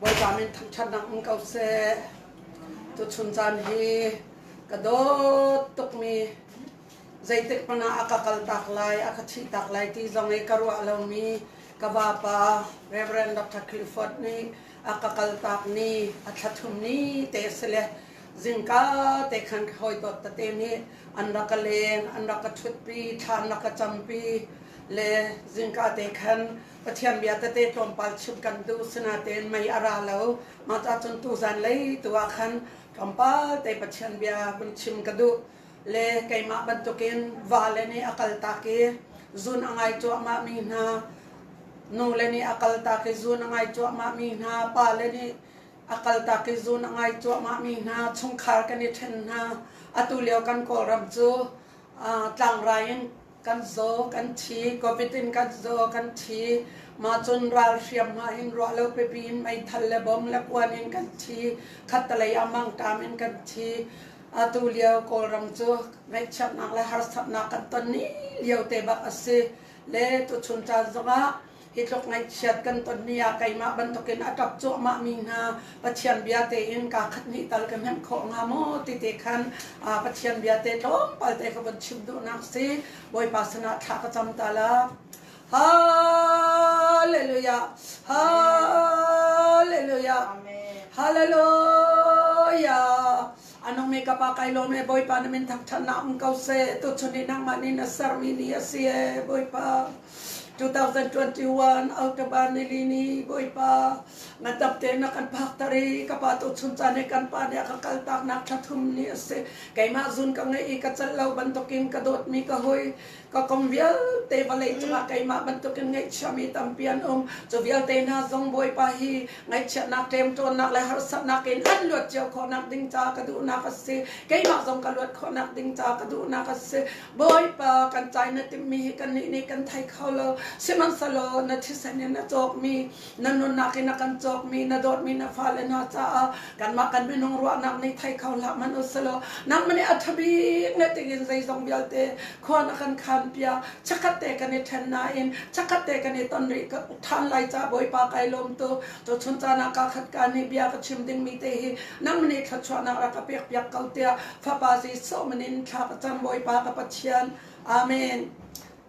Bawipa min thangṭhatnak um ko seh. Tuchun caan hi ka dawt tukmi zeitik hmanh ah a ka kaltak lai, a ka thihtak lai ti zong i ka ruah lomi ka vapa Reverend Dr. Clifford nih a ka kaltak ni, a thlathum ni te si le zingka te khan ka hawi tot tate nih an rak ka leng, an rak ka thutpi, thlan rak ka campi le zingka te khan Pathian bia tete tlawmpal chimh kan duh sinatein mei a ra lo. Mah ca cun tuzan lei tu ah khan tlawmpal te Pathian bia vun chim ka duh. Le keimah bantukin va le nih a kaltak i zun a ngai cuahmah mi hna, nu le nih a kaltak i zun a ngai cuahmah mi hna, pa le nih a kaltak i zun a ngai cuahmah mi hna, chungkhar kan i ṭhen hna. Atu lio kan Kawlram cu tlangrai in kan zaw kan thi covid in kan zaw kan thi mahcun ral hriamhma in ruah lo pipi in meithal le bom le kuan in kan thi khattalei ah mangṭam in kan thi atu lio kawlram cu ngaihchiatnak le harsatnak kan ton ni lio te bak a si le tuchun caan zongah Hi tluk ngaihchiat kan ton ni ah keimah bantukin a ṭap cuahmah mi hna Pathian bia tein kaa khat hnih tal ka hnemh khawh hnga maw ti te khan Pathian bia te tlawmpal te ka von chim duhnak si. Bawipa sinah thla ka cam ta la. Hallelujah. Hallelujah. Hallelujah. Anung mi ka pa kai lawm e Bawipa na min thangṭhat na ong ko seh tuchun i nangmah nih na sermi ni a si e Bawipa 2021 Autobahn Rili ni Bawipa ngatap te na kan phak tar i ka pa tu chun caan he kan pa nih a ka kal tak nak thathum ni a si keimah zun ka ngeih i ka cal lo bantukin ka dawtmi ka hoi ka kong vialte vawlei cungah keimah bantukin ngaihchiami tampi an um. Cu vialte hna zong Bawipa hi ngaihchiatnak, ṭemṭawnnak le harsatnak in an luat cio khawhnak ding ca ka duhnak a si. Keimah zong ka luat khawhnak ding ca ka duhnak a si. Bawipa kan cai na timmi hi kannih nih kan thei kho lo. Sihmanhsehlaw na thisen in a cawkmi Na nunnak in a kan cawkmi, na dawtmi na fale hna caah kanmah kan minung ruahnak nih thei kho hlah hmanh u selaw nangmah nih a ṭhabik na tingin zeizong vialte khua na kan khan piak chakhat te kan i ṭhen nain chakhat te kan i ton rih ṭhan lai ca Bawipa kai lawm tu tu chun caan ah ka khat ka nih bia ka chim dingmi te hi nangmah nih thluachuahnak rak ka pek piak ko tiah fapa si so min in thla ka cam Bawipa ka Pathian Amen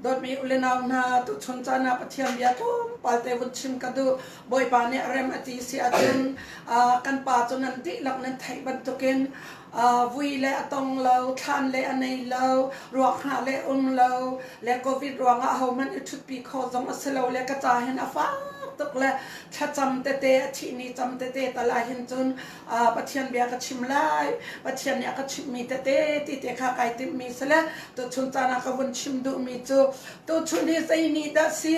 Dawtmi ulenau hna, tuchun caan ah Pathian bia tlawmpalte vun chim ka duh. Bawipa nih rem a ti si ahcun kan pa cu nan dihlak nan theih bantukin vui le a tong lo, thlan le a nei lo, ruak hna le um lo, le covid ruangah hohmanh i ṭhutpi kho zong a si lo le ka ca hin a fak tuk le thlacam tete, a thihni cam tete tal ahhin cun Pathian bia ka chim lai, Pathian nih a ka chimhmi tete ti te kha kai timhmi si le tuchun caan ah ka vun chim duhmi cu tuchun hi zei ni dah si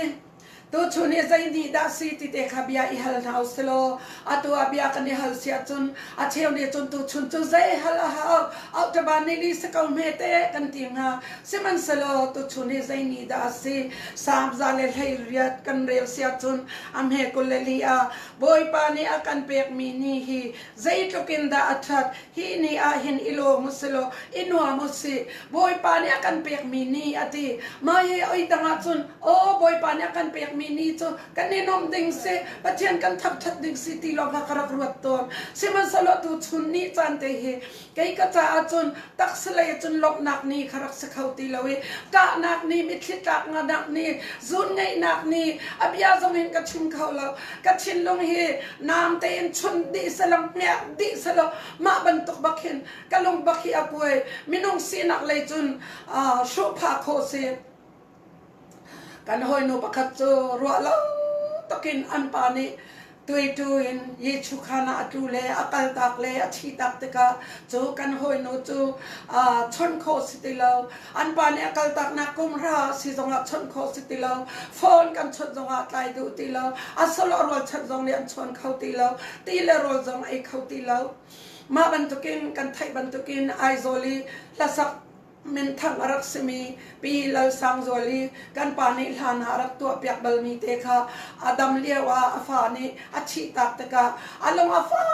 tuchun hi zei ni dah si ti te kha bia i hal hna u si law atu ah bia kan i hal si ahcun a cheu nih cun tuchun cu zei hal a hau auṭaba neili si ko hme te kan ti hnga sihmanhsehlaw tuchun hi zei ni dah a si sam za le hlei riat kan rel si ahcun a hme kul le li ah Bawipa nih a kan pekmi ni hi zeitluk in dah a ṭhat! Hi ni ah hin i lawm u sih law i nuam u sih. Bawipa nih a kan pekmi ni a ti. Mah hi oi tang ahcun aw Bawipa nih a kan pekmi ni cu kan i nuamh ding si, Pathian kan thapṭhat ding si ti lawng kha ka rak ruat tawn. Sihmanhsehlaw tuchun ni caan te hi Kei ka caah cun taksalei cun lawmhnak ni kha rak si kho ti lo i ṭahnak ni, mitthli tlak nganak ni, zun ngeihnak ni, a bia zong in ka chim kho lo. Ka thinlung hi naam tein chun dih selaw, hmiak dih selaw, mah bantuk bak hin ka lung bak hi a puai. Minung sinak lei cun aa hruhphah khawh si. Kan hawinu pakhat cu ruah lo takin an pa nih tueitu in Jesuh khan ah a tlu le a kaltak le a thihtak tikah cu kan hawinu cu aa chawnh khawh si ti lo. An pa nih a kaltaknak kumhra si zongah chawnh khawh si ti lo. Phone kan chawnh zongah tlai duh ti lo. A solo rualchan zong nih an chuan kho ti lo. Ti le rawl zong ei kho ti lo. Mah bantukin kan theih bantukin Aizawl i hlasak minthang a rak simi Pi Lalsangzual i kan pa nih hlan ah a rak tuahpiak balmi te kha a dam lio ah a fa nih a thih tak tikah a lung a fak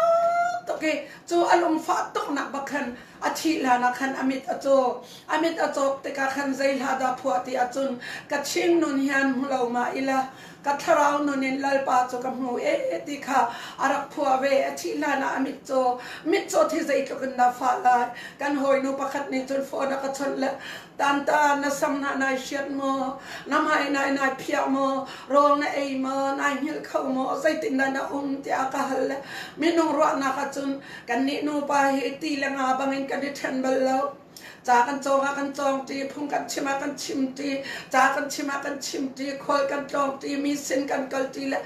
tuk i cu a lung fah tuknak bak khan a thih hlan ah khan a mit a caw a mit a cawk tikah khan zei hlah dah phuah ti ahcun ka ching nun hian hmu lo ma ila Ka thlarau nun in Lalpa cu ka hmu e ti kha a rak phuah ve. A thih hlan ah a mitcaw mitcaw thi zeitluk in dah fah lai. Kan hawinu pakhat nih cun phone a ka chawnh le tanta na sam hna nai hriat maw? Na hmai nai nai phiah maw? Rawl na ei maw? Nai hngilh kho maw? Zeitin dah na um? tiah a ka hal le minung ruahnak ah cun kannih nupa hi ti le nga bangin kan i ṭhen bal lo. Ca kan cawng ah kan cawng ṭi, phung kan chim ah kan chim ṭi, ca kan chim ah kan chim ṭi, khual kan tlawng ṭi, mi sin kan kal ṭi le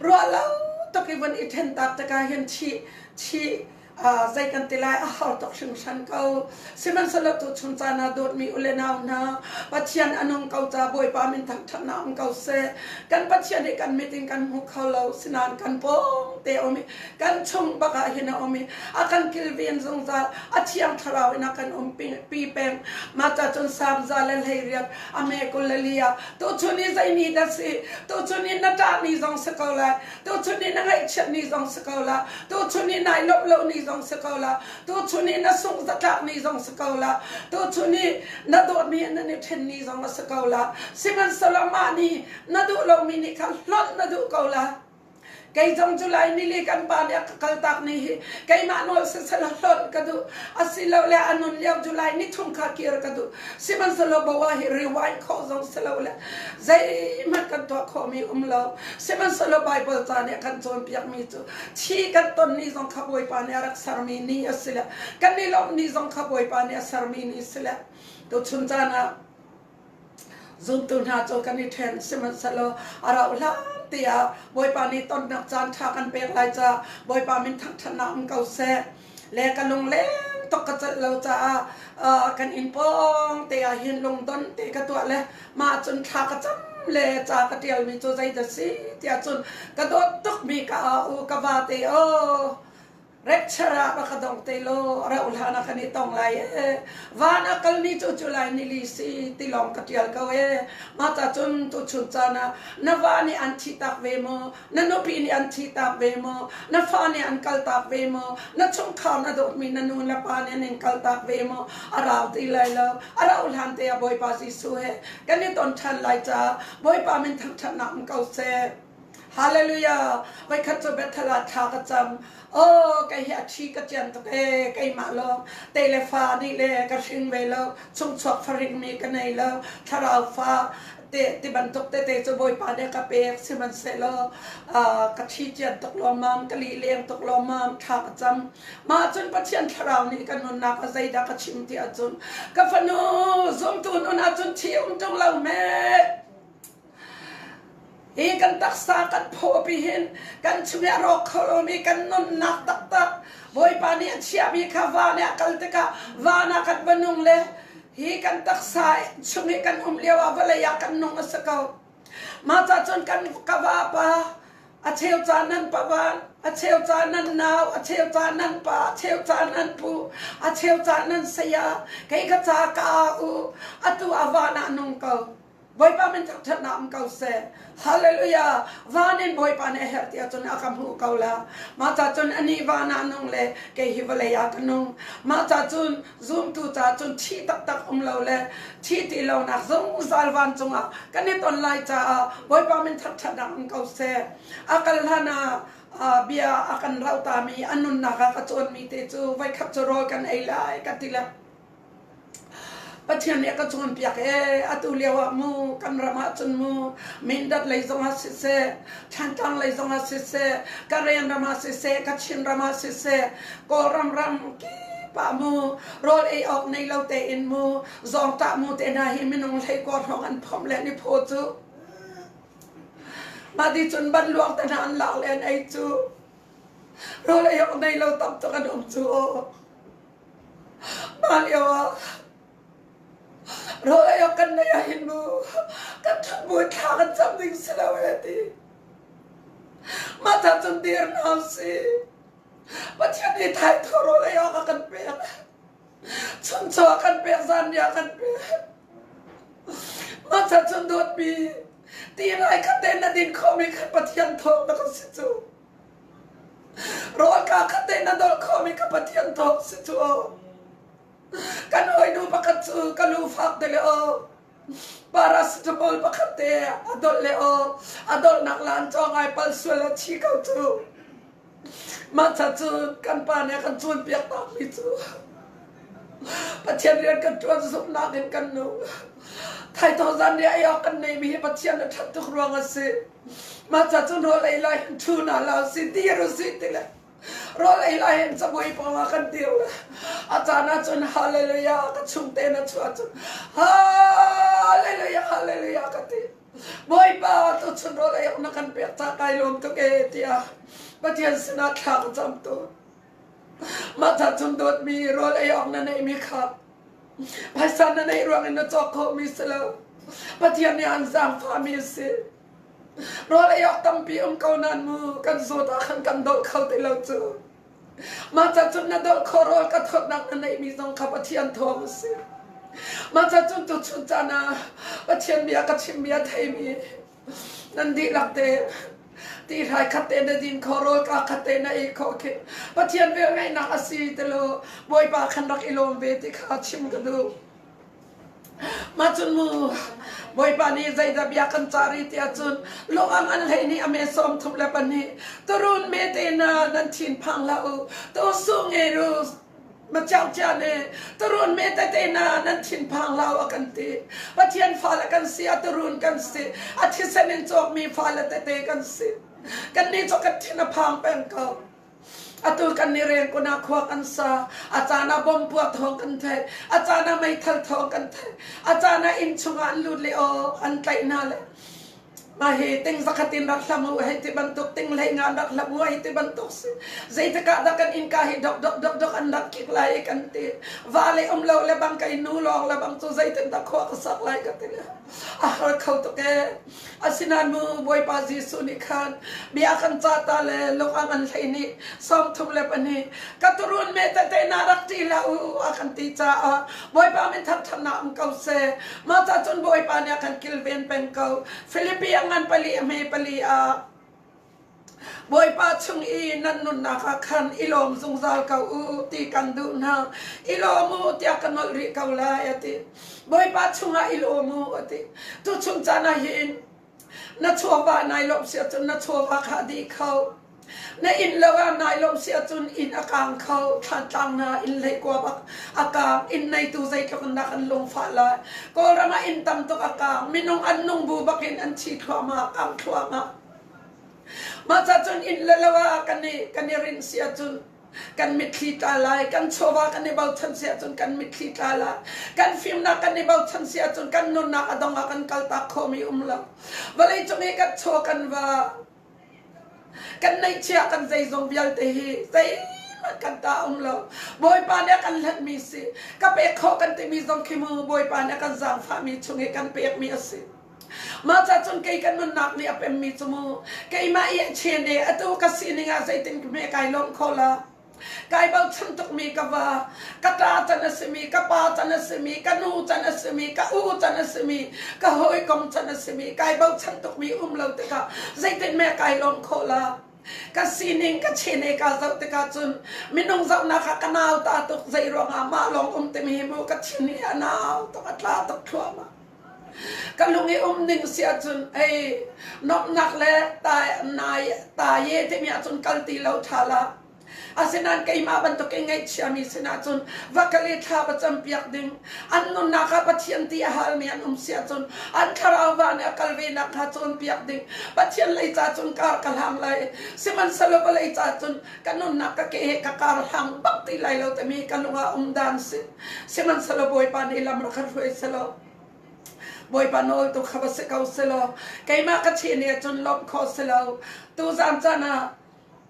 ruah lo tuk i vun i ṭhen tak tikah hin thih thih uh, zei kan ti lai a har tuk hringhran ko. Sihmanhsehlaw tuchun caan ah dawtmi u le nau hna, Pathian a nung ko ca Bawipa min thangṭhatnak um ko seh. Kan Pathian hi kan mit in kan hmu kho lo, sinain kan pawng te um i kan chung bak ah hin a um i a kan kilven zungzal a thiang thlarau in a kan um pi peng mata cun samza le leiriat a me kul le lia tu chun i zei ni dah si tu chun i na ṭah ni zong si ko la tu chun i na ngaihchiat ni zong si ko la tu chun i nai lop lo ni zong si ko la tu chun i na sungh zatlak ni zong si ko la tu chun i na dawtmi nan i ṭhen ni zong a si ko la sihmanhsehlaw mah ni na duh lomi nih khan hlolh na duh ko la Kei zong cu Laimi li kan pa nih a ka kaltak ni hi keimah nawl sesel hlonh ka duh asilole a nun lio July ni chung kha kir ka duh sihmanhsehlaw Bawa hi rewind khawh zong si lo le zeihmanh kan tuah khawhmi um lo sihmanhsehlaw Baibal ca nih a kan cawnpiakmi cu thi kan ton ni zong kha Bawipa nih a rak sermi ni a si le kan i lawmh ni zong kha Bawipa nih a sermi ni si le tuchun caan ah zumtu hna cu kan i ṭhen sihmanhsehlaw a rauh hlan tiah Bawipa nih tonnak caan ṭha kan pek lai caah Bawipa min thangṭhatnak um ko seh le ka lungleng tuk ka celh lo caah uh, kan inn pawng te ah hin lungdon te ka tuah le mah cun thla ka cam le ca ka ṭialmi cu zeidah si tiah cun ka dawt tuk mi ka a u ka va te o Rapture ah ka dong te lo rauh hlan ah kan i tong lai ee van a kal ni cu cu lai ni li si ti lawng ka tial ko ee ma ta cun tu chun caan ah na va nih an thi tak ve maw na nupi nih an thi tak ve maw na fa nih an kal tak ve maw na chungkhar na dawtmi na nu le pa nih an kal tak ve maw a rau ti lai lo a rauh hlan te a bawipa Jesuh he kan i ton ṭhan lai ca bawipa min thangṭhatnak um ko seh Hallelujah! Voikhat cu Bethel ah thla ka cam. Oh, kei hi a ṭhi ka ciam tuk ee, keimah lawng. Te le fa nih le ka hring ve lo. Chungchuak faringmi ka nei lo. Thlarau fa te ti bantuk tete cu Bawipa nih ka pek sihmanhsehlaw uh, ka ṭhi cian tuk lawmam, ka lih leng tuk lawmam, thla ka cam. Mah cun Pathian Thlarau nih ka nunnak a zeidah ka chim ti ahcun ka fanu zumtu nun ahcun ṭhi um ṭung lo me. Hi kan taksa kan phawpi hin kan chungah a rawk kho lomi kan nunnak taktak Bawipa nih a chiahmi kha van ah a kal tikah van ah kan va nung le hi kan taksa chung i kan um lio ah vawlei ah kan nung a si ko. Mah cahcun kan ka vapa a cheu ca nan pavan, a cheu ca nan nau, a cheu ca nan pa, a cheu ca nan pu, a cheu ca nan saya, kei ka ca ka au, atu a van ah nung ko. Bawipa min chak ṭhatnak um ko seh. Hallelujah. Van in Bawipa nih a herh tiah cun a ka hmuh ko la. Mah ca cun ani van ah nung le kei hi vawlei ah ka nung. Mah ca cun zumtu ca cun thih taktak um lo le thi ti lonak zong zal van cungah kan i ton lai caah Bawipa min chak ṭhatnak um ko seh. A kal hlan ah uh, bia a kan rauhta mi a nunnak a ka cawnmi te cu voi khat cu rawl kan ei lai ka ti le Pathian nih a ka cawnpiak ee atu lio ah mu kan ram ahcun mu Mindat lei zongah siseh Thantlang lei zongah siseh Karen ram ah siseh Kachin ram ah siseh Kawlram ram kipah mu rawl ei awk nei lo tein mu zawngtah mu te hna hi minung hleikua hrawng an phomh le niphaw cu mahti cun banluak te hna an lak le an ei cu rawl ei awk nei lo tam tuk an um cu aw. Hmailio ah rawl ei awk kan neih ahhin nu kan ṭhathmuai thla kan cam ding si lo e ti. Mah cacun dir hna usih. Pathian nih thaithawh rawl ei awk a kan pek. Chuncaw a kan pek, zanriah a kan pek. Mah cacun dawtmi ti lai kha ten a din khawhmi kha Pathian thawng na ka si cu. Rawlka kha te na dolh khomi ka Pathian thawg si cu aw. Kan hawinu pakhat cu ka lu fak te le aw paracetamol pakhat te a dolh le aw a dolhnak laan cawng ai pal sual a chi ko cu. Mah ca cu kan pa nih a kan cawnpiak takmi cu Pathian rian kan ṭuan zumhnak in kan nu. Thaithawh zanriah ei awk kan neihmi hi Pathian a ṭhat tuk ruang a si. Mah ca cun rawl ei lai hin ṭhu hna hlah usih dir usih ti le rawl ei lai hin cabuai pawng ah kan dir le a caan ah cun hallelujah ka chungte na chuah cun hallelujah hallelujah ka ti Bawipa tu chun rawl ei awk na kan pek ta kai lawm tuk e tiah Pathian sinah thla ka camtu Mah chan chung dawtmi rawl ei awk na neihmi kha phaisa na neih ruangin na cawk khomi si lo. Pathian nih an zaangfahmi a si. Rawl ei awk tampi um ko nan mu kan zawt ah khan kan dolh kho ti lo cu. Mah ca cun na dolh khawh rawl ka thawtnak na neihmi zong kha Pathian thawng a si. Mah ca cun tuchun caan ah Pathian bia ka chimmi a theimi Nan dihlak tein ti hlai khat te na din kho, rawl ka khat te na ei kho khi Pathian velngeihnak a si ti law Bawipa khan rak i lawm ve ti kha chim ka duh. Mah cun mu Bawipa nih zeidah bia kan cah rih tiah cun luang an hlei nih a me sawm thup le pahnih turun me te na nan thinphang hlah u tu sungei ru Maciaucia nih turun me tete na nan thinphang hlau a kan ti. Pathian fale kan si a turun kan si. A thisen in cawkmi fale tete kan si. Kan ni cu kan thin a phang peng ko. Atu kan ni reng kuna khua kan sa. A cana bom pua thawng kan thei. A cana meithal thawng kan thei. A cana inn chungah an lut le o an tlaih hna le. A hi ting zakhat in rak hlam u hei ti bantuk tinglei nga rak hlam u hei ti bantuk si. Zeitikah dah kan innka hi dok dok dok dok an rak kik lai kan ti. Va le um lo le bang ka nu lawng le bang cu zeitin dah khua ka sak lai ka ti le. A har kho tuk e. Asinain mu Bawipa Jesuh nih khan bia kan ca ta le lungam an hlei nih sawm thum le pahnih ka turun me tete na rak ti la u a kan ti caah Bawipa min thangthatnak um ko se. Mata cun Bawipa nih a kan kilven peng ko. Philippi a ngan pali a hme pali a Bawipa chung i nan nunnak ah khan i lawm zungzal ko u ti kan duh hna. I lawm u tiah ka nolh rih ko lai a ti. Bawipa chungah i lawm u a ti. Tu chung caan ah hin Na chawva nai lo sia cun na chawva kha a dih kho. Na inn lo ah nai lo sia cun inn a kaang kho. Thlantlang na inn lei kuab a kaang. Inn neitu zeitluk in dah kan lungfah lai. Kawlram ah inn tam tuk a kaang. Minung an nung bu bak in an thi thluahmah, kaang thluahmah. Mah cun inn le lo ah kan i, kan i rin sia cun kan mitthli tla lai kan chawva kan i bochan si ahcun kan mitthli tla lai kan fimnak kan i bochan si ahcun kan nunnak a dong ah kan kaltak khomi um lo vawlei cung i kan chaw kan va kan neihchia kan zeizong vialte hi zeihmanh kan ta um lo bawipa nih a kan hlenmi si ka pek khawh kan timi zong khi mu bawipa nih a kan zaangfahmi chung i kan pekmi a si Mah ca cun kei kan nunnak nih a pemmi cu mu keimah i a chene atu ka sining ah zeitin hme kai lawm kho la kai bochan tukmi ka va ka ta can a simi ka pa can a simi ka nu can a simi ka u can a simi ka hawikom can a simi kai bochan tukmi um lo tikah zeitin me kai lawm kho la ka sining ka chene ka zoh tikah cun minung zohnak ah ka nau ta tuk zei ruangah mah lawng um timi hi mu ka thin hi a nau tuk a tla tuk thluahmah Ka lung i um ning si ahcun ei nomhnak le taye timi ahcun kal ti lo ṭha la. Asinain keimah bantukin ngaihchiami sinah cun va kal i thla va campiak ding. An nunnak ah Pathian ti a halmi an um si ahcun an thlarau va nih a kal ve nakhnga cawnpiak ding. Pathian lei ca cun kar ka hlang lai. Sihmanhsehlaw vawlei ca cun ka nunnak ka ke he ka kar hang bak ti lai lo tami ka lungah um dan si sihmanhselo bawipa nih lam ra kha hruai selo bawipa nawl tu kha va si ko selo keimah ka chi nih cun lawmh kho selo tu zan caan ah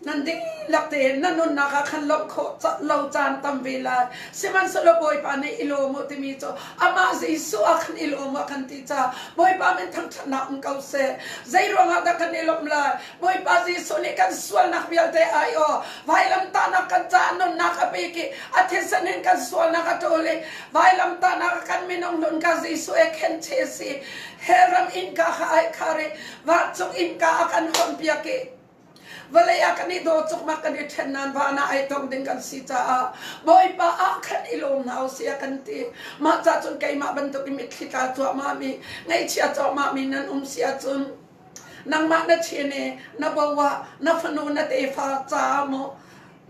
nan ding lak te na nunnak ah khan lawmh khawh lo caan tam ve lai sihmanhselo bawipa nih i lawm u timi cu amah jesuh ah khan i lawm u kan ti ca bawipa min thangthatnak um ko se zei ruangah dah kan i lawm lai Bawipa Jesuh nih kan sualnak vialte aiawh. Vailamtahnak kan caah nunnak a pek i a thisen in kan sualnak a ṭawl i vailamtahnak ah kan minung nun kha Jesuh he khenche a si. Hellram innka kha ai khar i vancung innka ah kan hawnpiak i vawlei ah kan i daw cukmak kan i ṭhen nain van ah ai tong ding kan si caah Bawipa ah khan i lawm hna u sia kan ti. Mah ca cun keimah bantuk in mitthli tla cuahmah mi, ngaihchia cuahmah mi nan um si ahcun nangmah na chin i na bo ah na fanu na tefa ca maw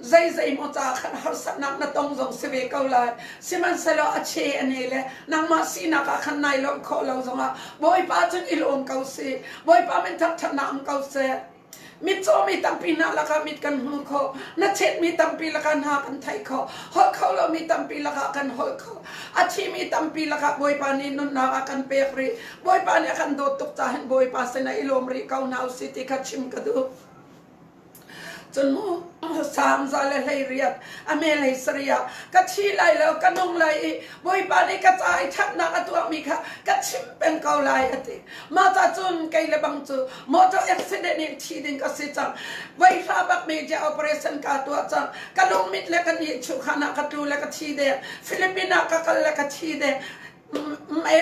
zei zei maw ca khan harsatnak na tong zong si ve ko lai sihmanhsehlaw a che a ne le nangmah sinak ah khan nai lawmh khawh lo zongah bawipa cun i lawm ko si bawipa min thangṭhatnak ong ko seh mitcaw mi tampi hna lakah mit kan hmu kho na chet mi tampi lakah hna kan theih kho holh kho lo mi tampi lakah kan holh kho a thi mi tampi lakah bawipa nih nunnak a kan pek rih Bawipa nih a kan dawt tuk cahin Bawipa sin i lawm rih ko hna usih ti kha chim ka duh. Cun sam za le hleiriat a me lei sari ah ka thi lai lo ka nung lai i Bawipa nih ka ca i ṭhatnak a tuahmi kha ka chim peng ko lai a ti. Mah ca cun kei le bang cu motor accident in thi ding ka si cang. Voi hla bak media operation ka tuah cang. Ka lungmit le ka ni chukhan ah ka tlu le ka thi deng. Philippines ah ka kal le ka thi deng.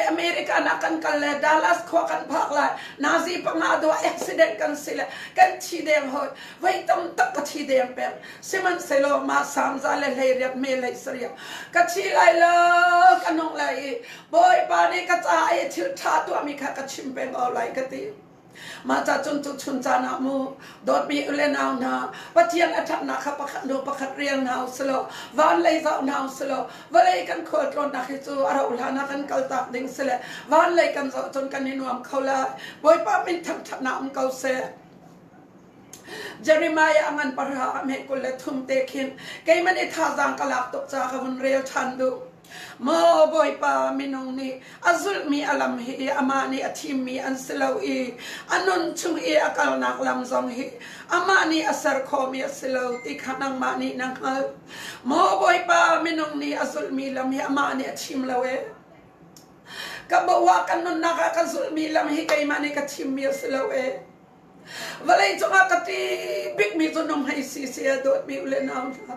America na kan kal le Dallas khua kan phak lai Nazi panga dua accident kan si le kan thi deng hoi voi tam tak ka thi deng peng sihmanhsehlaw ma samza le hleiriat me lei sariah ka thi lai lo ka nong lai i bawipa nih ka ca i thil ṭha tuahmi kha ka chim peng ko lai ka ti Mah cacun tuchun caan ah mu dawtmi ule nau hna Pathian a ṭhatnak kha pakhat hnu pakhat rel hna u silo van lei zau hna u silo vawlei kan khual tlawnnak hi cu a rauh hlan ah kan kaltak ding sile van lei kan zoh cun kan i nuam kho lai Bawipa min thangṭhatnak um ko seh Jeremiah angan parha ame kul le thum te khin keiman i thazang ka lak tuk ca ka vun rel ṭhan duh Maw Bawipa, minung nih a zulhmi a lam hi amah nih a thimmi an si lo i a nun chung i a kalnak lam zong hi amah nih a ser khawhmi a si lo ti kha nangmah nih na hngalh. Maw Bawipa, minung nih a zulhmi lam hi amah nih a thim lo ee. Ka boah ka nunnak ah ka zulhmi lam hi keimah nih ka thimmi a si lo ee. Vawlei cungah ka ṭi bikmi cu nunghmei si si a dawtmi ule nau hna.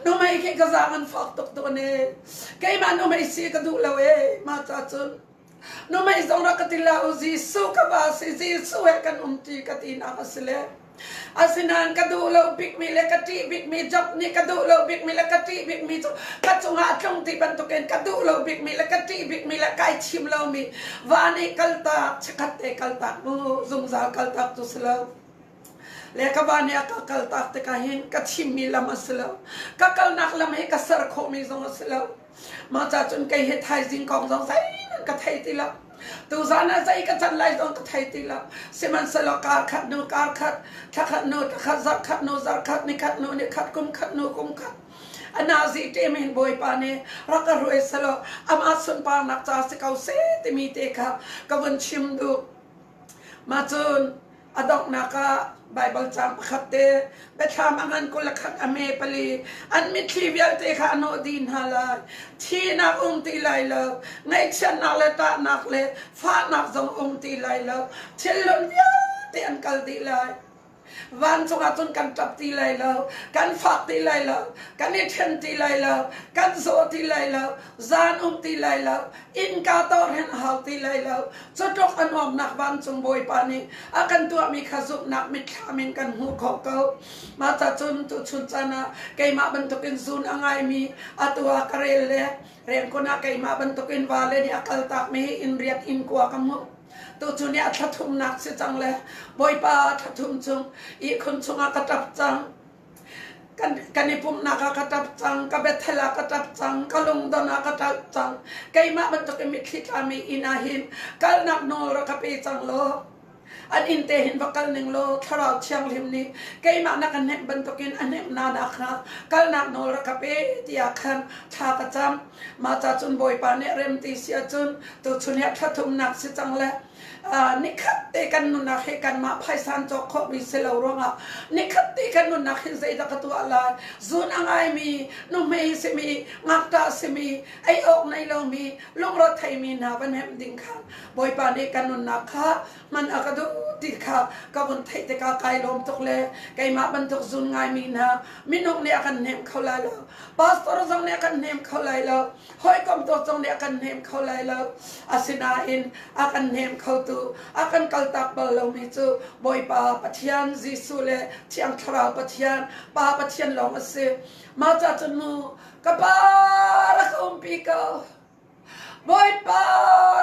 Nunghmei khi ka zaang an fak tuk tawn e. Keimah nunghmei si ka duh lo e. Mah ca cun nunghmei zong rak ka ti la u Jesuh ka va si Jesuh he kan um ti ka tinak a si le Asinain ka duh lo bikmi le ka ṭih bikmi job nih ka duh lo bikmi le ka ṭih bikmi cu ka cungah a tlung ti bantukin ka duh lo bikmi le ka ṭih bikmi le kai thim lomi va nih kaltak chekhat te kaltak bu zungzal kaltak cu si lo le ka va nih a ka kaltak tikah hin ka thimmi lam a si lo ka kalnak lam hi ka ser khawhmi zong a si lo Mah cahcun kei hi thaizing kong zong zeihmanh ka thei ti lo. Tuzan ah zei ka can lai zong ka thei ti lo. Sihmanhsehlaw kaa khat hnu kaa khat, thla khat hnu thla khat, zarh khat hnu zarh khat, ni khat hnu ni khat, kum khat hnu kum khat. Anazi ṭem in Bawipa nih rak ka ruai selaw amah sunparnak ca si ko seh timi te kha ka vun chim duh. Mah cun A donghnak ah Baibal caang pakhat te biathlam a ngan kul a khat a me pali an mitthli vialte kha a nawh dih hna lai thihnak um ti lai lo ngaihchiatnak le tahnak le fahnak zong um ti lai lo thillun vialte an kal dih lai vancung ah cun kan ṭap ti lai lo kan fak ti lai lo kan i ṭhen ti lai lo kan zaw ti lai lo zan um ti lai lo Innka tawh hin a hau ti lai lo. Cutluk a nuamnak vancung Bawipa nih a kan tuahmi kha zumhnak mitthlam in kan hmuh khawh ko. Mah cacun tuchun caan ah keimah bantukin zun a ngaimi atu ah ka rel le riankhun ah keimah bantukin vale nih a kaltakmi hi inn riat inn kua ka hmuh. Tuchun i a thlathumnak si cang le Bawipa a thlathum chung ihkhun chungah ka ṭap cang. Kan i pumhnak ah ka ṭap cang, ka Bethel ah ka ṭap cang, ka lungdon ah ka ṭap cang. Keimah bantukin mitthli ṭhami inn ah hin kalnak nawl ka pe cang law an inn te hin va kal ning law Thlarau Thianghlim nih keimah na ka hnemh bantukin a hnemh nana kha kalnak nawl rak ka pe tiah khan thla ka cam. Mah ca cun Bawipa nih remti si ahcun tuchun hi a ṭhathumnak si cang le nikhat te kan nunnak he kanmah phaisan cawk khawhmi si lo ruangah nikhat te kan nunnak hin zeidah ka tuah lai zun a ngaimi nuhmei simi ngakṭah simi ei awk nei lomi lungro theimi hna van hemh ding kha bawipa nih kan nunnak kha man a ka duh ti kha ka vun theih tikah kai lawm tuk le keimah bantuk zun ngaimi hna minung nih a kan hnem kho lai lo pastor zong nih a kan hnem kho lai lo Hawikom tu zong nih a kan hnem kho lai lo. Asinain a kan hnem khotu, a kan kaltak bal lomi cu Bawipa Pathian Jesuh le Thiang Thlarau Pathian, Pa Pathian lawng a si. Mah ca cun mu, ka Pa rak umpi ko. Bawipa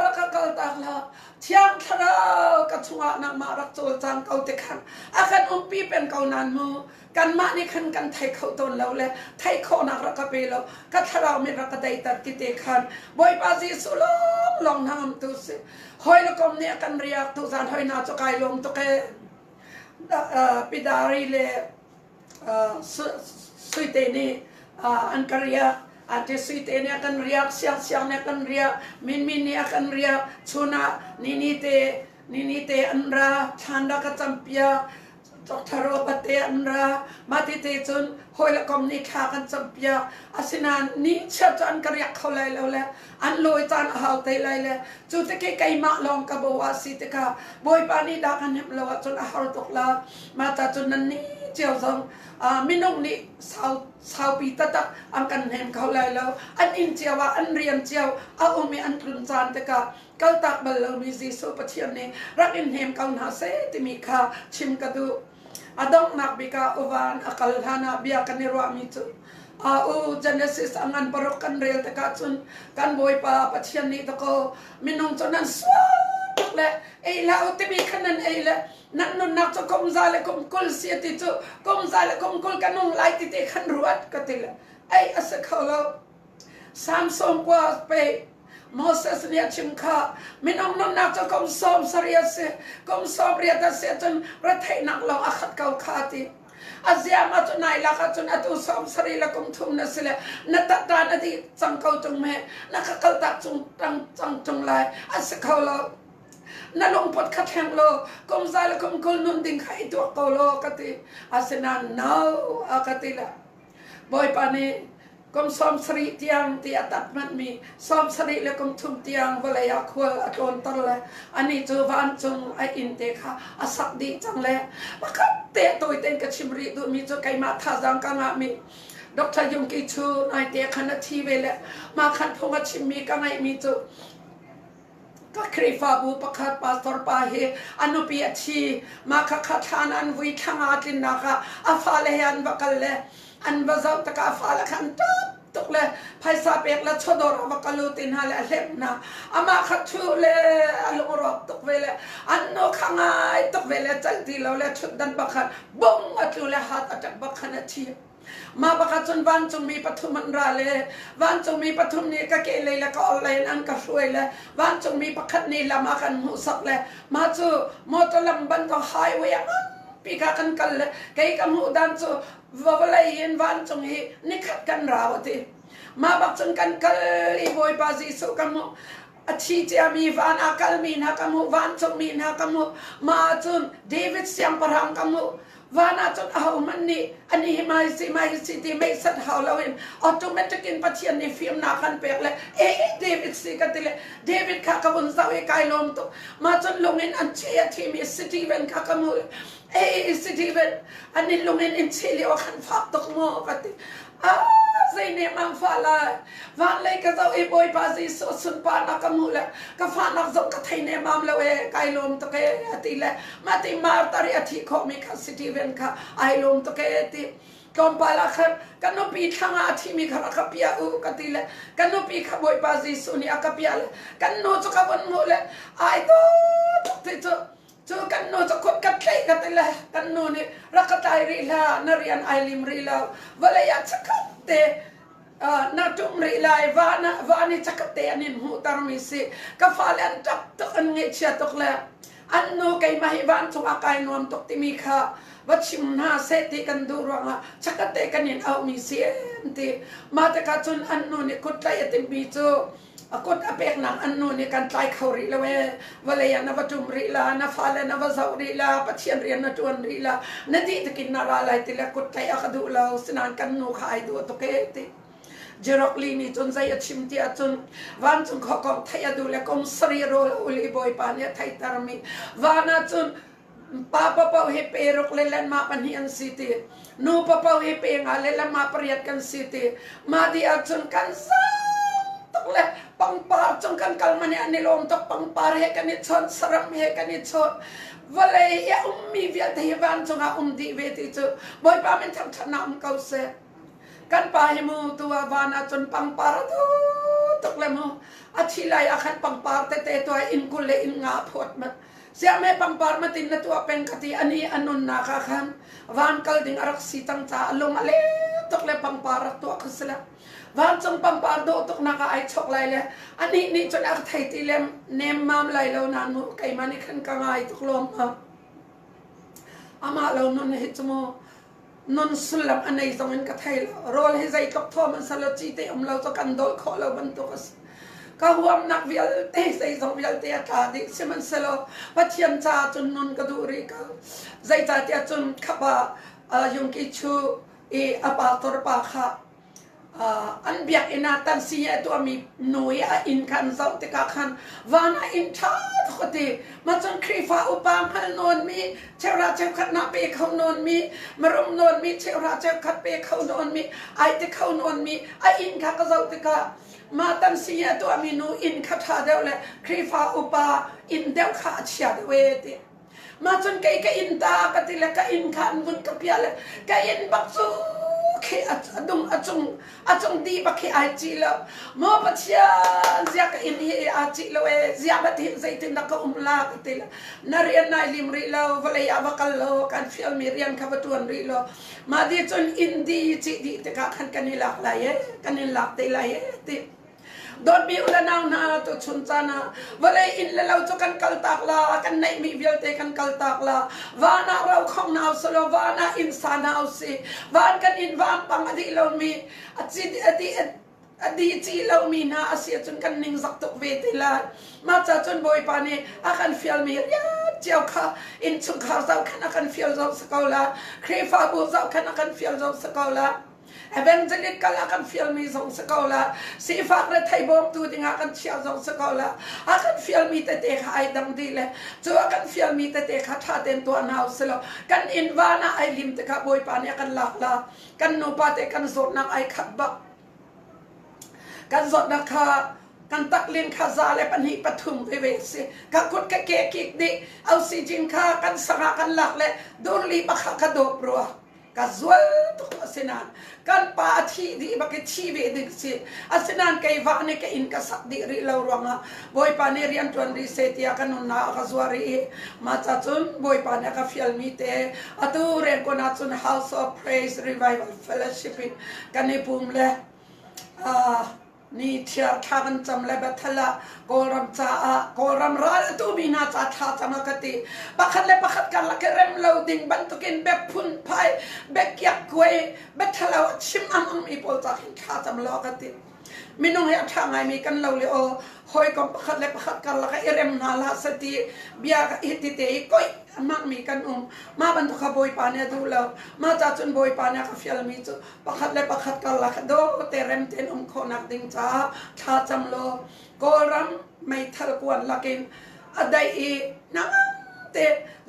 rak ka kaltak law, Thiang Thlarau ka chungah nangmah rak cawlcang ko ti khan a kan umpi peng ko nan mu. kanmah nih khan kan theih kho tawn lo le theih khawhnak rak ka pe lo ka thlarau mit rak ka daiter ti te khan bawipa jesuh long long hnangam tu si hoi lokom nih kan riak tu zan hoi na chu kai lom tu ke pidari le suite nih an ka riak ate suite nih kan riak siang siang nih kan riak min min nih kan riak chuna ni ni te ni ni te an ra than ra ka champia Doctor pate an ra. Mah tete cun hawi le kom nih thla kan campiak. Asinain ni chia cu an ka riak kho lai lo le an lawi caan a hau te lai le cu teke keimah lawng ka bo a si tikah Bawipa nih dah kan hnemh lo ahcun a har tuk la. Mah ca cun nan ni cio zong uh, minung nih sau, saupi tatak an kan hnem kho lai lo. An inn cio ah an rian cio a um i an tlun caan tikah kaltak bal lomi Jesuh Pathian nih rak in hnem ko hna seh timi kha chim ka duh. A donghnak bik ah uvan a kal hlan ah bia kan i ruahmi cu a u Genesis angan paruk kan rel tikah cun kan Bawipa Pathian nih dakaw minung cu nan sual tuk le ei la u timi kha nan ei le nan nunnak cu kum za le kum kul si ti cu kum za le kum kul ka nung lai ti te khan ruat ka ti le ei a si kho lo Samson kua a peh. Moses nih a chim kha minung nunnak cu kum sawm sarih a si. Kum sawm riat a si cun retheihnak lawng a khat ko kha ti. A ziam ah cun nai lak ah cun atu sawm sarih le kum thum na si le na tatta na dih cang ko tung me na ka kal tak cung tang cang tung lai a si kho lo na lungput kha thleng lo kum za le kum kul nun ding kha i tuak ko lo ka ti asinain no a ka ti la Bawipa nih kum sawm sarih tiang ti a tat hmanmi sawm sarih le kum thum tiang vawlei ah khual a tlawnter le anih cu vancung a inn te kha a sak dih cang le pakhat te tawi ten ka chim rih duhmi cu keimah thazang ka ngahmi Dr. Yumki cu naite khan a thi ve le mah khan phung a chimmi ka ngaihmi cu Ka Khrihfabu pakhat pastor pa hi a nupi a thi. Mah khakha thlan an vui thlang ah a tlinnak ah a fale he an va kal le an va zoh tikah fale kha an ṭap tuk le phaisa pek le chawdawr ah va kal u ti hna le a hlemh hna. Amah kha thu le a lungrawk tuk ve le an nu kha ngai tuk ve le celh ti lo le ṭhutdan pakhat bung a tlu le hat a ṭap bakhan a thi. Mah bakah cun vancungmi pathum an ra le vancungmi pathum nih ka kehlei le ka orhlei in an ka hruai le vancungmi pakhat nih lam a kan hmuhsak le mah cu motor lam bantuk highway a nganpi kha kan kal le kei ka hmuh dan cu vawlei in vancung hi nikhat kan rau a ti mah bak cun kan kal i bawipa jesuh ka hmuh a thi ciami van a kalmi hna ka hmuh vancungmi hna ka hmuh mah ah cun david siangpahrang ka hmuh van ah cun ahohmanh nih an ih mai si mai si ti meisat hau lo in automatic in pathian nih fimnak kan pek le e david si ka ti le david kha ka vun zoh i kai lawm tuk ma cun lung in an chih a thimi city ven kha ka hmuh e city ven an in lung in in chih li o khan fak tuk maw ka ti zei nemmang fa la vanlei ka zoh i bawipa jesuh sunparnak ka hmuh le ka fahnak zong ka thei nemmam lo e kai lawm tuk e a ti le ma ti mar tari a thi khomi kha city ven kha ai lawm tuk e ti tlawmpal ah khan ka nupi thlanga a thimi kha ka pia u ka ti le ka nupi kha bawipa jesuh nih a ka pia le kan nu cu ka vun hmuh le ai to tuk ti cu Cu kan nu cu kut ka tleih ka ti le kan nu nih rak ka tlai rih hlah na rian ai lim rih lo vawlei ah chakhat te na ṭum rih lai va na va nih chakhat te an in hmuhtermi si ka fale an ṭap tuk an ngaihchia tuk le an nu keimah hi van chungah kai nuam tuk timi kha va chim hna seh ti kan duh ruangah chakate kan in auhmi si em ti mah tikah cun an nu nih kuttlaih a timmi cu a kut a peknak an nu nih kan tlai kho rih lo ee vawlei ah na va ṭum rih la na fale na va zoh rih la pathian rian na ṭuan rih la na dih takin na ra lai ti le kut tlaih a ka duh lo sinain kan nu kha ai duh tuk ee ti Jerokli nih cun zei a chim ti ahcun vancung khuakong theih a duh le kum sari rawl uli bawipa nih a theihtermi van ah cun Pa papoh hi peruk le lenmah pahnih an si ti nu papoh hi penga le lemah pariat kan si ti mah di ahcun kan sang tuk le pangpar cung kan kal mani an i lawm tuk pangpar he kan i chon saram he kan i chon vawlei i a ummi vialte hi vancung ah um dih ve ti cu bawipa min thangṭhat na um ko seh kan pa hi mu tu a van ahcun pangpar a tu tuk le mu a thi lai a khan pangpar tete tuai in kul le in nga phawt mat Siahme pangpar matin na tuah peng ka ti ani a nunnak ah khan van kal ding a rak si tang ca a lung a le tuk le pangpar rak tuah ka si le vancung pangpar dawh tuk nak ah ai chok lai le ani nih cun a thei ti le nem mam lai lo nan mu keima nih khan ka ngai tuk lom ma amah lo nun hi chu mu Nun sullam a nei zong in ka thei lo. Rawl hi zeitluk thawm an sal ci te um lo cu kan dolh khawh lo bantuk a si. Ka huamnak vialte zei zong vialte a tla dih sihmanhsehlaw Pathian caah cun nun ka duh rih ko. Zeicahtiah cun khapa uh, Yungki Chu i a pa tor pa kha an biakinn ah tan si a tuahmi nu i a inn kha an zoh tikah khan van a inn ṭha tuk a ti mah cun Khrihfa upa hngal nawnmi cheuhra cheukhat naa pe kho nawnmi marum nawnmi cheuhra cheukhat pe kho nawnmi ai te kho nawnmi a inn kha ka zoh tikah mah tan si a tuahmi nu inn kha ṭha deuh le Khrihfa upa inn deuh kha a chia deuh ee ti ma cun kei ka inn ta ka ti le ka inn kha an vun ka piah le ka inn bak cu khi a dum a cung a cung di bak khi ai ci lo mo pathian zia ka inn hi a ci lo e zia bat hi zeitin na ka um la ka ti le na rian nai lim rih lo vawlei ah va kal lo kan fial mi rian kha va tuan rih lo ma di cun inn di ci di tikah khan kan i lak lai e kan in lak te lai e ti Dawtmi u le nau hna tuchun caan ah vawlei inn le lo cu kan kal tak la kan neihmi vialte kan kal tak la van ah ro khong hna usih law van ah inn sa hna usih van kan inn vampang a dih lomi a ci a dih a di ci lomi hna a si cun kan ning zak tuk ve te lai mah ca cun bawipa nih a kan fialmi riat cio kha inn chungkhar zoh khan a kan fial zo sa ko la khrihfabu zoh khan a kan fial zo sa ko la Evangelic kal ah kan fialmi zong si ko la, sifak le theibawmtu dingah kan chiah zong si ko la, a kan fialmi tete kha ai dang dih le cu a kan fialmi tete kha ṭha tein tuah hna u silo. Kan inn van ah ai lim tikah Bawipa nih a kan lak la, kan nupa te kan zawtnak ai khat bak. Kan zawtnak kha kan taklin kha za le pahnih pathum veve si ka kut ka ke kik nih ausi jin kha kan sangah kan lak le durli pakha ka dawp rua ka zual tuk asinan kan pa a thi dih bak i thi ve ding si asinan kei va ne ka in ka sak dih rih lo ruangah bawipa nih rian ṭuan rih se tiah ka nunna a ka zuar rih ma ca cun bawipa nih a ka fialmi te atu rengkon ah cun house of praise revival fellowship in kan i pum le uh, Ni thiar thla kan cam le Bethel ah Kawlram caah Kawlram raltu mi hna ca thla cam a ka ti. Pakhat le pakhat karlak i rem lo ding bantukin bek phunphai, bek kiak kuai, Bethel ah chim am ammi pawl ca khin thla cam law ka ti. Minung hi a ṭha ngaimi kan lo le o hawi kong pakhat le pakhat karlak i rem hna la sati bia ka hitite i koih a hmangmi kan um. Mah bantuk kha Bawipa nih a duh lo. Mah ca cun Bawipa nih a ka fialmi cu pakhat le pakhat karlak dawte remte in um khawhnak ding caah thlacam law Kawlram meithal puan lakin a daih i namte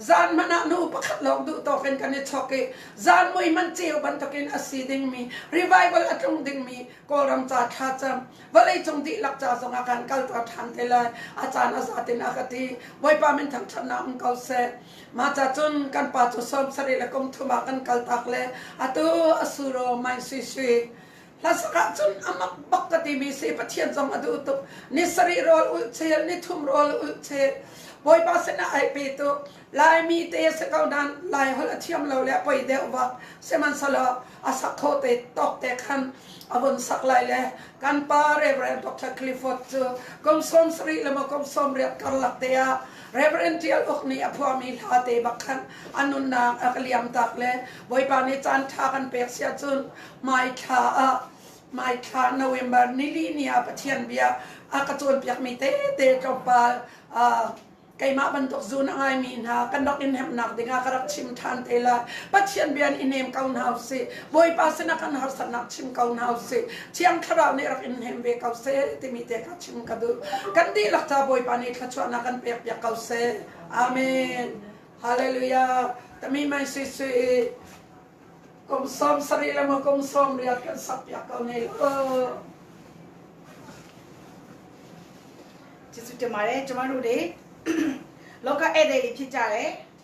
zan man ah nu pakhat lawng duh tawk in kan i chok i zan mui man ceu bantukin a si dingmi revival a tlung dingmi Kawlram ca thlacam vawlei cung dihlak ca zong a kan kaltuah ṭhan te lai a caan a zatin a ka ti Bawipa min thangṭhatnak um ko seh Mah cacun kan pa cu sawm sarih le kum thum ah kan kaltak le atu a suro mai sui sui. Hlasak ah cun a mak bak ka timi si Pathian zong a duh tuk. Ni sarih rawl ulh chel, ni thum rawl ulh chel. Bawipa sinah ai pe tu Laimi te si ko nan Lai holh a thiam lo le poi deuh bak sihmanhselaw a sak kho te tok te khan a vun sak lai le kan pa Reverend Dr. Clifford cu kum sawm sarih le maw kum sawm riat karlak te ah Reverend ṭial uk nih a phuami hlate bak khan a nunnak a ka liamtak le Bawipa nih caanṭha kan pek si ahcun mai thla ah mai thla November nili ni ah Pathian bia a ka cawnpiakmi tete tlawmpal uh, keimah bantuk zun a ngaimi hna kan rak in hemnak dingah ka rak chim ṭhan te lai Pathian bia in i nem ko hna usih Bawipa sinah kan harsatnak chim ko hna usih Thiang Thlarau nih rak in hem ve ko seh timi te ka ka duh kan dihlak ca bawipa nih thluachuahnak kan pek piak ko seh amen hallelujah tami mai sui sui kum som sari le mo kum som riat kan sak piak ko ne lo chisu te mai chuma lu de loka ede li thi cha le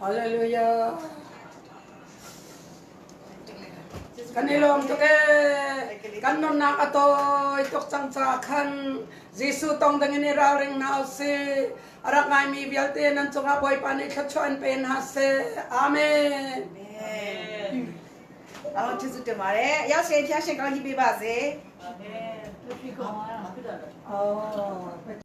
Hallelujah. Kan i lawm tuk ee. Kan nunnak a tawi tuk cang caah khan Jesuh tong dingin i ralring hna u si. A rak ngaimi vialte nan cungah Bawipa nih thluachuah in pe hna seh. Amen. Amen. Amen. Jesuh tumare. Yao sen thiang sen kong hi bi ba se. Oh.